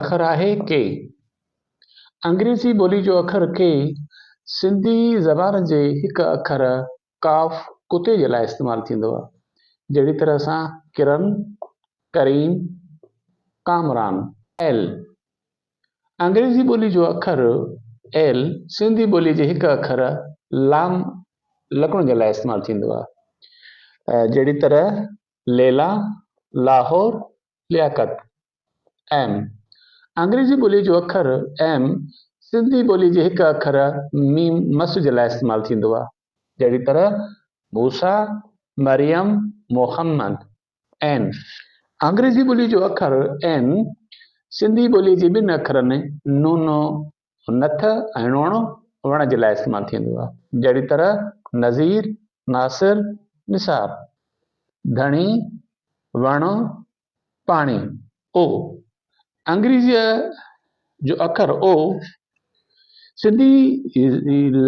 اکر آهي ڪي. انگريزي ٻولي جو اکر ڪي سنڌي زبان جي هڪ اکر قاف ڪتي جي لاء استعمال ٿيندو آهي جهڙي طرح سان ڪرن، ڪريم، ڪامران. ايل. انگريزي ٻولي جو اکر ايل سنڌي ٻولي جي هڪ اکر لام لکڻ جي لاء استعمال ٿيندو آهي جهڙي طرح ليلا، لاهور، لياقت. ايم، انگريزي ٻوليء جو اکر ايم سنڌي ٻوليء جي هڪ اکر ميم مس جي لاء استعمال ٿيندو آهي. جهڙي طرح موسيٰ، مريم، محمد. اين، انگريزي ٻوليء جو اکر اين سنڌي ٻوليء جي ٻن اکرن نونو، نٿ، ۽ ڻوڻ، وڻ، جي لاء استعمال ٿيندو آهي. جهڙي طرح نذير، ناصر، نثار. ڌڻي، وڻ، پاڻي، او، انگريزيء جو اکر او سنڌي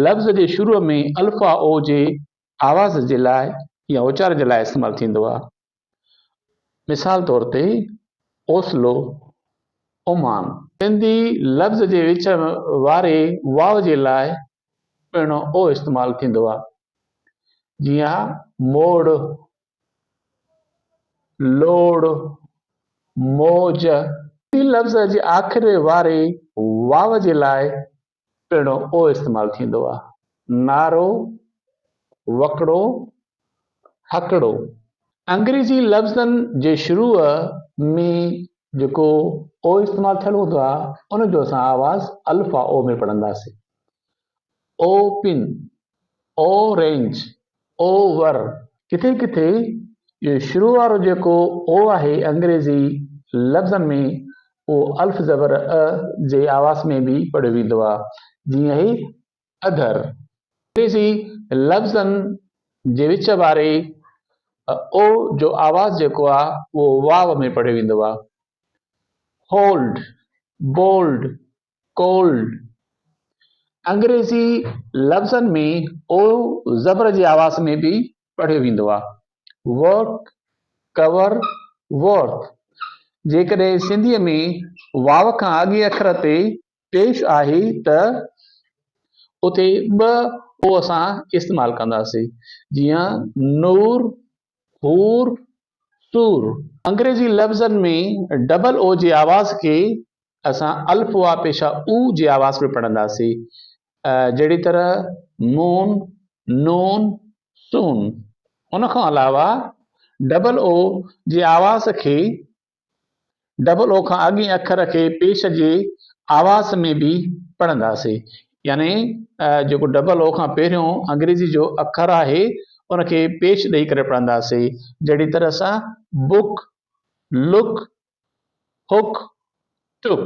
لفظ جي شروع ۾ الف آ او جي آواز جي لاء يا اچار جي لاء استعمال ٿيندو آهي. مثال طور تي، اوسلو، اومان. سنڌي لفظ جي وچ واري واو جي لاء پڻ او استعمال ٿيندو آهي. جيئن، موڙ، لوڙ، موج، ٽي لفظ جي آخر واري واو جي لاء پڻ او استعمال ٿيندو آهي. نارو، وڪڙو، هڪڙو، انگريزي لفظن جي شروع ۾ جيڪو او استعمال ٿيل هوندو آهي، ان جو اسان آواز الف آء او ۾ پڙهنداسين. Open, orange, over, ڪٿي ڪٿي اهو شروع وارو جيڪو او آهي انگريزي لفظن ۾ اهو الف زبر ء جي آواز ۾ به پڙهيو ويندو آهي جيئن اهي اڌر انگريزي لفظن جي وچ واري او جو آواز جيڪو آهي اهو واو ۾ پڙهيو ويندو آهي هولڊ، بولڊ، Cold، انگريزي لفظن ۾ او زبر جي آواز ۾ به پڙهيو ويندو آهي. Work، Cover، Work، جيڪڏهن سنڌيء ۾ واو کان اڳئين اکر تي پيش آهي ته اتي ٻه او اسان استعمال ڪنداسين جيئن نور، حور، سور. انگريزي لفظن ۾ ڊبل او جي آواز کي اسان الف واء پيشه او جي آواز ۾ پڙهنداسين جهڙي طرح مون، نون، سون. ان کان علاوه ڊبل او جي آواز کي ڊبل او کان اڳئين اکر کي پيش جي آواز ۾ به پڙهنداسين يعني جيڪو ڊبل او کان پهريون انگريزي جو اکر آهي ان کي پيش ڏئي ڪري پڙهنداسين جهڙي طرح سان بوڪ لوڪ هوڪ ٽوڪ